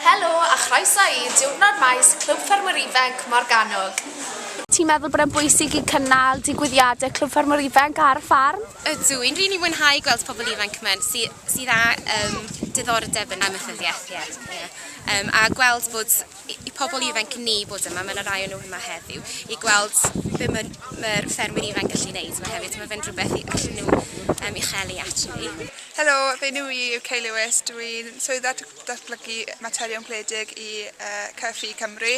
Helo a chroeso i Diwrnod Maes Clwb Ffermwyr Ifanc Morgannwg! Ti'n meddwl bod e'n bwysig i cynnal digwyddiadau Clwb Ffermwyr Ifanc ar y ffarm? Ydw, i'n rili mwynhau gweld pobl ifanc yma sy sydd â yym diddordeb yn amaethyddiaeth ie ie yym a gweld bod i pobl ifanc ni bod yma, mae 'na rai o nhw yma heddiw, i gweld be mae'r mae ffermwyr ifanc gallu wneud yma hefyd, mae fe'n rhywbeth i allu nhw um, i chelu actually. Helo, fe nhw i yw Kay Lewis, dw i'n swydda datblygu materion gwledig i uh, Cyfi Cymru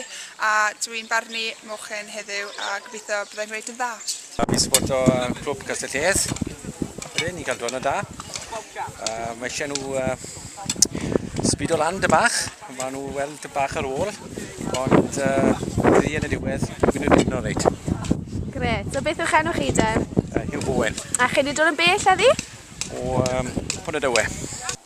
a dw i'n barnu mochyn heddiw a gobeithio byddai'n gwneud yn dda. Tra fi'n sboto clwb Castell Llees, rydyn ni'n cael diwrnod da. Uh, mae eisiau nhw uh, sbido lan dy bach, mae nhw weld dy bach ar ôl, ond uh, ddi yn y diwedd, mynd i'n ddiwrnod reit. Gret, so beth yw'ch enw chi de? Uh, Hugh Bowen. A chi wedi dod yn bell a ddi? O um, Pwnt y Dywe.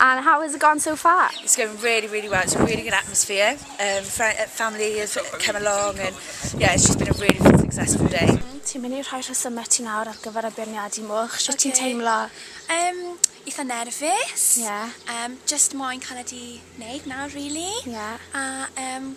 And how has it gone so far? It's going really, really well. It's a really good atmosphere. Um, uh, family has come along and yeah, it's just been a really, really successful day. Mm, ti'n mynd i rhoi rhesymau ti nawr ar gyfer y beirniadu mwch? Sut okay. ti'n teimlo? Um, eitha nerfus. Yeah. Um, just moyn cael ydi wneud nawr, really. Yeah. A um,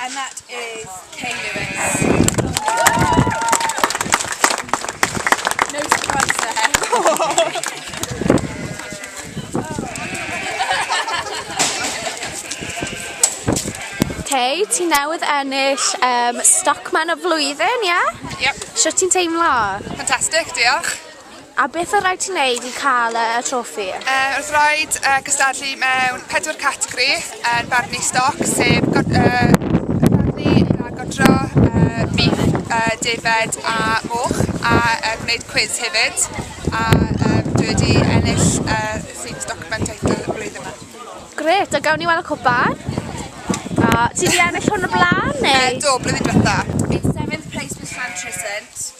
And that is Kay Lewis. No surprise there. Kay, ti newydd ennill um, Stockman y flwyddyn, ie? Yeah? Yep. Sut ti'n teimlo? Fantastic, diolch. A beth oedd rhaid ti wneud i cael y trofi? Uh, oedd rhaid uh, cystadlu mewn pedwar categori yn barnu stoc, sef god, uh, barnu a godro, uh, bif, uh, defed a moch, a uh, gwneud cwiz hefyd. A um, dwi wedi ennill uh, Themes Document Title y blwyddyn yma. Gret, a gawn ni weld y cwpan? A ti wedi ennill hwn y blaen neu? Uh, do, blwyddyn diwetha. It's seventh place was Llantrysent.